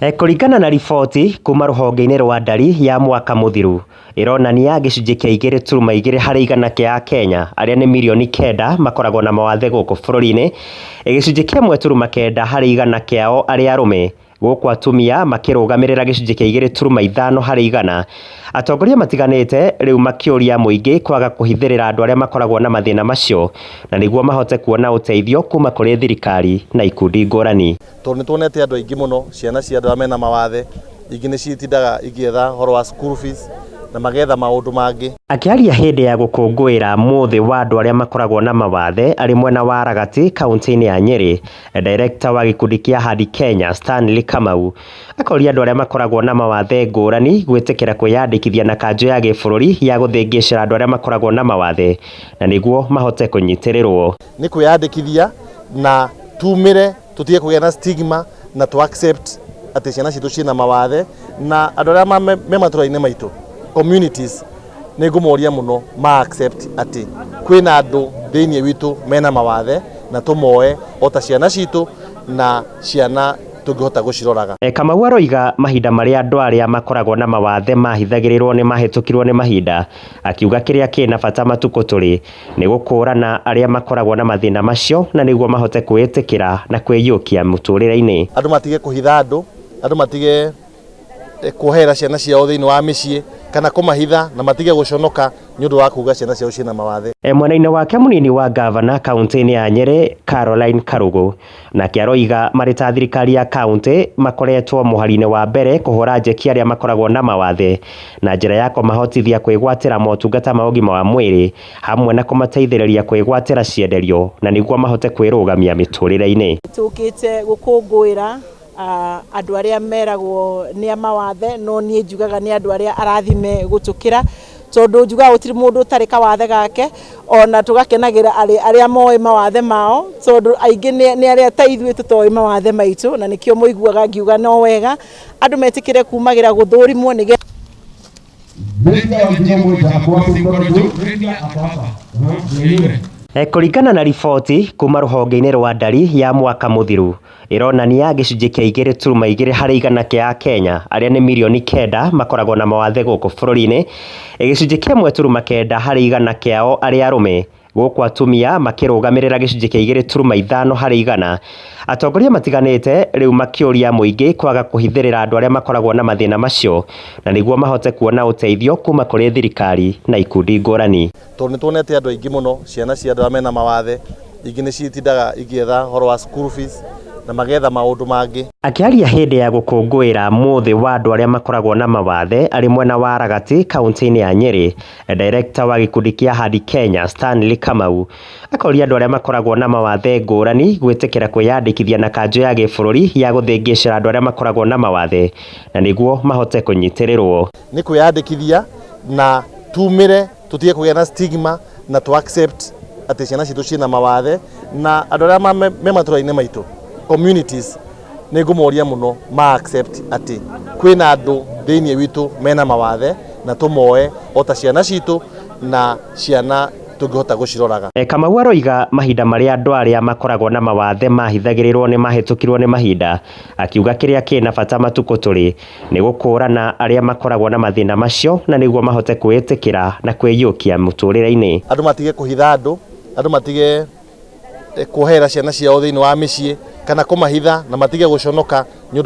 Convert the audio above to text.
Eh, kũringana na riboti kuma rũhonge-inĩ rwa ndari ya mwaka mũthiru ĩronania gĩcunjĩ kĩa igĩrĩ turuma igĩrĩ harĩ igana kĩa Akenya arĩa nĩ mirioni kenda makoragwo na mawathe gũkũ bũrũri-inĩ, gĩcunjĩ kĩa ĩmwe turuma kenda harĩ igana kĩao arĩ arũme Gũkũ atumia makĩrũgamĩrĩra gĩcunjĩ kĩa igĩrĩ turuma ithano harĩ igana. Atongoria matiganĩte rĩu makĩũria mũingĩ kwaga kũhithĩrĩra andũ arĩa makoragwo na mathĩna macio na nĩguo mahote kuona ũteithio kuma kũrĩ thirikari na ikundi ngũrani. Tondũ nĩ tuonete andũ aingĩ mũno, ciana cia andũ arĩa mena mawathe, ingĩ nĩ citindaga igĩetha ũhoro wa school fees na magetha maũndũ mangĩ. Akĩaria hĩndĩ ya gũkũngũĩra mũthĩ wa andũ arĩa makoragwo na mawathe arĩ mwena wa Ragati, kauntĩ-inĩ ya Nyeri, Director wa gĩkundi kĩa Hadi Kenya Stanley Kamau akoria andũ arĩa makoragwo na mawathe ngũrani gwĩtĩkĩra kwĩyandĩkithia na kanjũ ya gĩbũrũri ya gũthĩngĩcĩra andũ arĩa makoragwo na mawathe na nĩguo mahote kũnyitĩrĩrwo. Nĩ kwĩyandĩkithia na tumĩre tũtige kũgĩa na stigma na tũ accept atĩ ciana citũ ciĩna mawathe na andũ arĩa me matũra-inĩ maitũ communities Nĩ ngũmoria mũno ma accept atĩ kwĩna andũ thĩinĩ witũ mena mawathe na tũmoe o ta ciana citũ na ciana tũngĩhota gũciroraga. Kamau aroiga mahinda marĩa andũ arĩa makoragwo na mawathe mahithagĩrĩrwo nĩ mahĩtũkirwo nĩ mahinda, akiuga kĩrĩa kĩ na bata matukũ tũrĩ nĩ gũkũũrana arĩa makoragwo na mathĩna macio na nĩguo mahote kwĩĩtĩkĩra na kwĩiyũkia mũtũrĩre-inĩ. Andũ matige kũhitha andũ, andũ matige. eh, kuoherera ciana ciao thĩinĩ wa mĩciĩ kana kũmahitha na matige gũconoka nĩ ũndũ wa kuga ciana ciao ciĩna mawathe E, mwena-inĩ wake mũnini wa ngavana kaunti-inĩ ya Nyeri Caroline Karugu nake aroiga marĩ ta thirikari ya kaunti makoretwo mũhari-inĩ wa mbere kũhũra njeki arĩa makoragwo na mawathe na njĩra ya kũmahotithia kwĩgwatĩra motungata ma ũgima wa mwĩrĩ hamwe na kũmateithĩrĩria kwĩgwatĩra cienderio na nĩguo mahote kwĩrũgamia mĩtũrĩre-inĩ. tũkĩte gũkũngũĩra andũ arĩa meragwo nĩ amawathe no niĩ njugaga nĩ andũ arĩa arathime gũtũkĩra tondũ njugaga gũtirĩ mũndũ ũtarĩ kawathe gake ona tũgakenagĩra arĩ arĩa moĩ mawathe mao tondũ aingĩ nĩ nĩ arĩa ta ithuĩ tũtoĩ mawathe maitũ na nĩkĩo mũiguaga ngiuga no wega andũ metĩkĩre kumagĩra gũthũrimwo nĩgetha Kũringana na riboti kuma rũhonge-inĩ rwa ndari ya mwaka mũthiru ĩronania gĩcunjĩ kĩa igĩrĩ turuma igĩrĩ harĩ igana kĩa Akenya arĩa nĩ mirioni kenda makoragwo na mawathe gũkũ bũrũri-inĩ, gĩcunjĩ kĩa ĩmwe turuma kenda harĩ igana kĩao arĩ arũme Gũkũ atumia makĩrũgamĩrĩra gĩcunjĩ kĩa igĩrĩ turuma ithano harĩ igana. Atongoria matiganĩte rĩu makĩũria mũingĩ kwaga kũhithĩrĩra andũ arĩa makoragwo na mathĩna macio na nĩguo mahote kuona ũteithio kuma kũrĩ thirikari na ikundi ngũrani. Tondũ nĩ tuonete andũ aingĩ mũno, ciana cia andũ arĩa mena mawathe, ingĩ nĩ citindaga igĩetha ũhoro wa school fees na magetha maũndũ mangĩ. Akĩaria hĩndĩ ya gũkũngũĩra mũthĩ wa andũ arĩa makoragwo na mawathe arĩ mwena wa Ragati, kauntĩ-inĩ ya Nyeri, Director wa gĩkundi kĩa Hadi Kenya Stanley Kamau akoria andũ arĩa makoragwo na mawathe ngũrani gwĩtĩkĩra kwĩyandĩkithia na kanjũ ya gĩbũrũri ya gũthĩngĩcĩra andũ arĩa makoragwo na mawathe na nĩguo mahote kũnyitĩrĩrwo. Nĩ kwĩyandĩkithia na tumĩre tũtige kũgĩa na stigma na tũ accept atĩ ciana citũ ciĩna mawathe na andũ arĩa me matũra-inĩ maitũ communities nä ngå moria må no ma accept atä kwä na andå thä iniä witå mena mawathe na tå moe o ta ciana citå na ciana tå ngä hota gå ciroraga E, Kamau aroiga mahinda marĩa andũ arĩa makoragwo na mawathe mahithagĩrĩrwo nĩ mahĩtũkirwo nĩ mahinda, akiuga kĩrĩa kĩna bata matukũ tũrĩ nĩ gũkũũrana arĩa makoragwo na mathĩna macio na nĩguo mahote kwĩĩtĩkĩra na kwĩiyũkia mũtũrĩre-inĩ. andå matige kå hitha andå andå matige kuoherera ciana ciao thĩinĩ wa mĩciĩ kana kũmahitha na matige gũconoka nĩ ũndũ